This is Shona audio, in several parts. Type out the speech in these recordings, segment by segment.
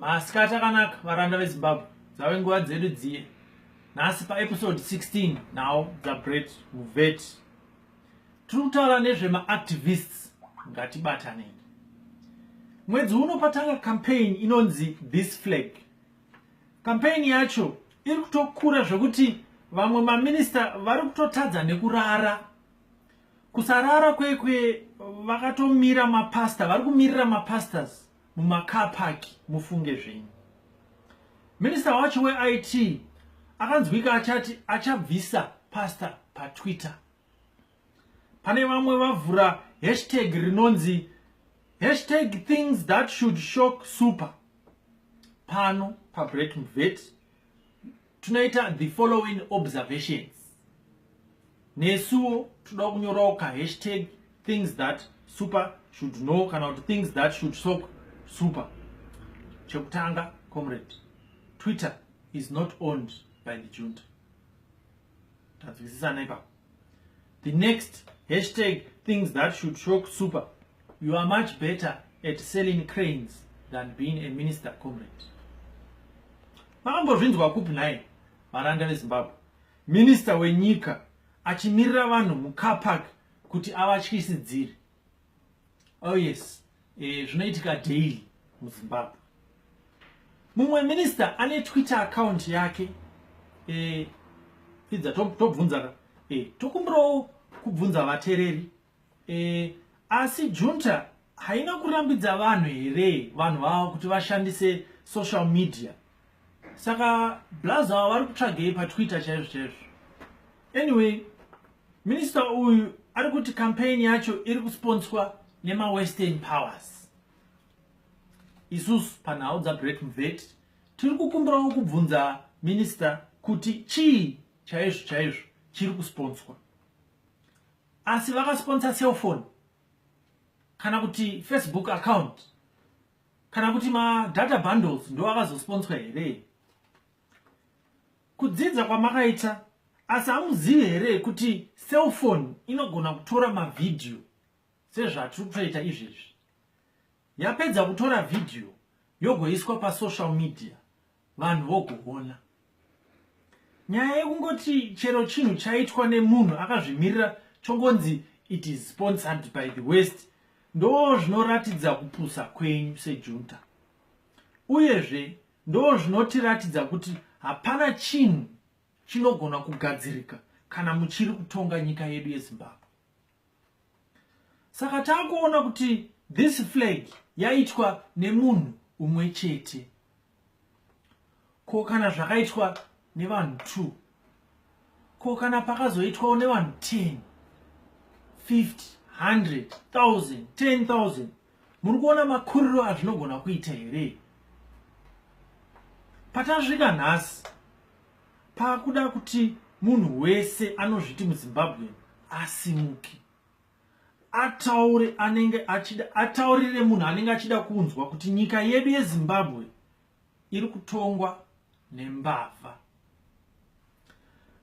Masikati akanaka varanda veZimbabwe dzave nguva dzedu dziye nhasi paepisode 16 now dzabret muvet tiri kutaura nezvemaactivists ngatibatanei mwedzi uno patanga campaign inonzi this flag campaign yacho iri kutokura zvekuti vamwe maminista vari kutotadza nekurara kusarara kwekwe vakatomira mapasta vari kumirira mapastors mumacar park mufunge zvenyu minista wacho weit akanzwika achati achabvisa pastor patwitter pane vamwe vavhura hashtag rinonzi hashtag things that should shock super pano pabreak mvet tunoita the following observations nesuwo toda kunyorawo ka hashtag things that super should know kana kuti things that should soak super chekutanga comrade twitter is not owned by the junta tanzwisisana ipapo the next hashtag things that should shock super you are much better at selling cranes than being a minister comrade makambozvinzwa kupi nhai varanda vezimbabwe minista wenyika achimirira vanhu mucar park kuti avatyisidziri Oh yes, eh, zvinoitika daily muZimbabwe. Mumwe minister ane Twitter account yake eh, pfidza tobvunza ka eh, tokumbirawo kubvunza vatereri eh, asi junta haina kurambidza vanhu here vanhu vavo kuti vashandise social media saka blaz ava vari kutsvagei patwitter chaizvo chaizvo anyway minista uyu ari kuti campaign yacho iri kusponswa nemawestern powers isusu panhau dzabret mvet tiri kukumbirawo kubvunza minista kuti chii chaizvo chaizvo chiri kusponswa asi vakasponsa cellphone kana kuti facebook account kana kuti madata bundles ndo akazosponswa here kudzidza kwamakaita asi hamuzivi here kuti cellphone inogona kutora mavhidhiyo sezvatiri kutoita izvezvi yapedza kutora vhidhiyo yogoiswa pasocial media vanhu vogoona nyaya yekungoti chero chinhu chaitwa nemunhu akazvimirira chongonzi it is sponsored by the west ndoo zvinoratidza kupusa kwenyu sejunta uyezve ndoo zvinotiratidza kuti hapana chinhu chinogona kugadzirika kana muchiri kutonga nyika yedu yezimbabwe saka tangoona kuti this flag yaitwa nemunhu umwe chete ko kana zvakaitwa nevanhu two ko kana pakazoitwawo nevanhu ten fifty hundred thousand ten thousand muri kuona makuriro azvinogona kuita here patasvika nhasi pakuda kuti munhu wese anozviti muzimbabwean asimuke ataure anenge achida ataurire munhu anenge achida kunzwa kuti nyika yedu yezimbabwe iri kutongwa nembavha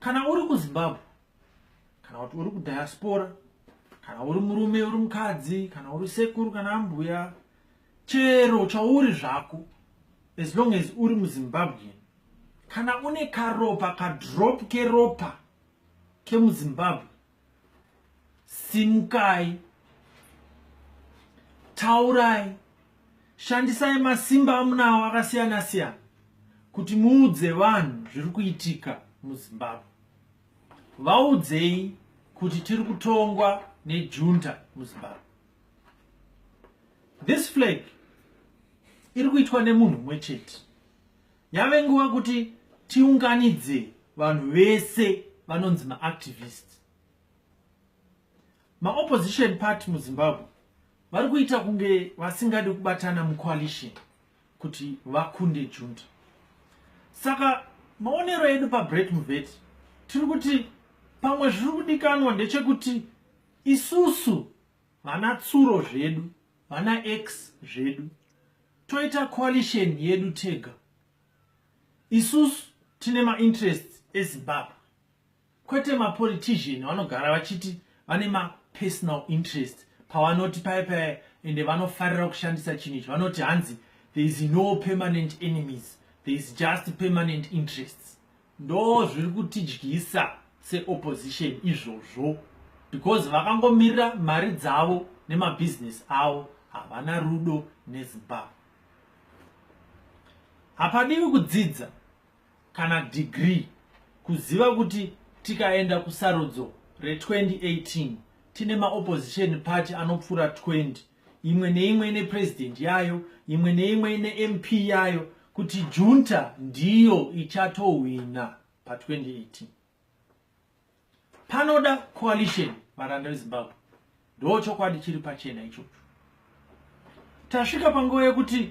kana uri kuzimbabwe kana kuti uri kudiaspora kana uri murume uri mukadzi kana uri sekuru kana ambuya chero chauri zvako as long as uri muzimbabwean kana une karopa kadrop keropa kemuzimbabwe simukai taurai shandisai masimba amunawo akasiyana siyana kuti muudze vanhu zviri kuitika muzimbabwe vaudzei kuti tiri kutongwa nejunta muzimbabwe this flag iri kuitwa nemunhu mumwe chete yave nguva kuti tiunganidze vanhu vese vanonzi maactivist maopposition party muzimbabwe vari kuita kunge vasingadi kubatana mucoalition kuti vakunde junta saka maonero edu pabret muvet tiri kuti pamwe zviri kudikanwa ndechekuti isusu vana tsuro zvedu vana x zvedu toita coalition yedu tega isusu tine mainterests ezimbabwe kwete mapolitician vanogara vachiti vane mapersonal interest pavanoti paye paye ende vanofarira kushandisa chinhu ichi vanoti hanzi there is no permanent enemies there is just permanent interests ndoo zviri kutidyisa seopposition izvozvo because vakangomirira mari dzavo nemabhizinesi avo havana rudo nezimbabwe hapadiwi kudzidza kana degree kuziva kuti tikaenda kusarudzo re2018 tine maopposition party anopfuura 20 imwe neimwe ine president yayo imwe neimwe ine mp yayo kuti junta ndiyo ichatohwina pa 2018 panoda coalition varanda vezimbabwe ndo chokwadi chiri pachena ichocho tasvika panguva yekuti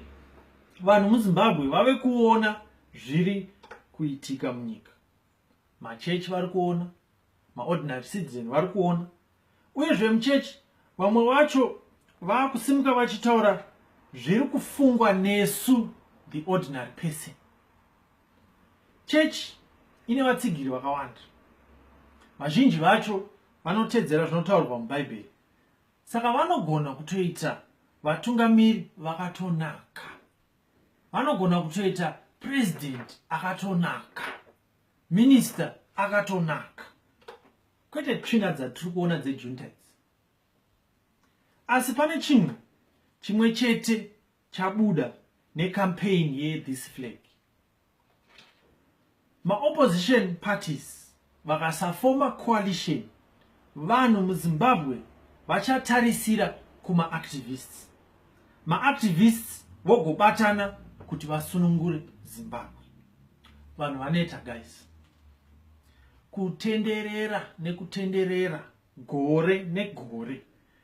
vanhu muzimbabwe vave kuona zviri kuitika munyika machechi vari kuona maordinary citizen vari kuona uye zvemuchechi vamwe vacho vakusimuka vachitaura zviri kufungwa nesu the ordinary person chechi ine vatsigiri vakawanda vazhinji vacho vanotedzera zvinotaurwa mubhaibheri saka vanogona kutoita vatungamiri vakatonaka vanogona kutoita president akatonaka minister akatonaka kwete tsvina dzatiri kuona dzejuntides asi pane chinhu chimwe chete chabuda necampaign yethis flag maopposition parties vakasafoma coalition vanhu muzimbabwe vachatarisira kumaactivists maactivists vogobatana kuti vasunungure zimbabwe vanhu vaneta guys kutenderera nekutenderera gore negore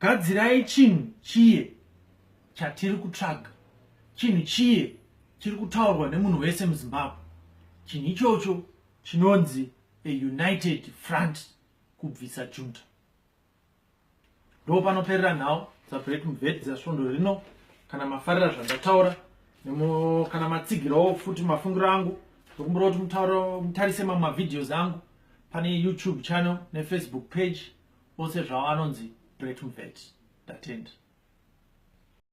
Gadzirai chinhu chiye chatiri kutsvaga, chinhu chiye chiri kutaurwa nemunhu wese muZimbabwe. Chinhu ichocho chinonzi a united front kubvisa junta. Ndo panoperera nhau dzaBreak Mved dzasvondo rino. Kana mafarira zvandataura kana matsigirawo futi mafungiro angu ndokumbira kuti mutarise mamwe mavideos angu pane YouTube channel nefacebook page ose zvawo anonzi Brett Mveti. Ndatenda.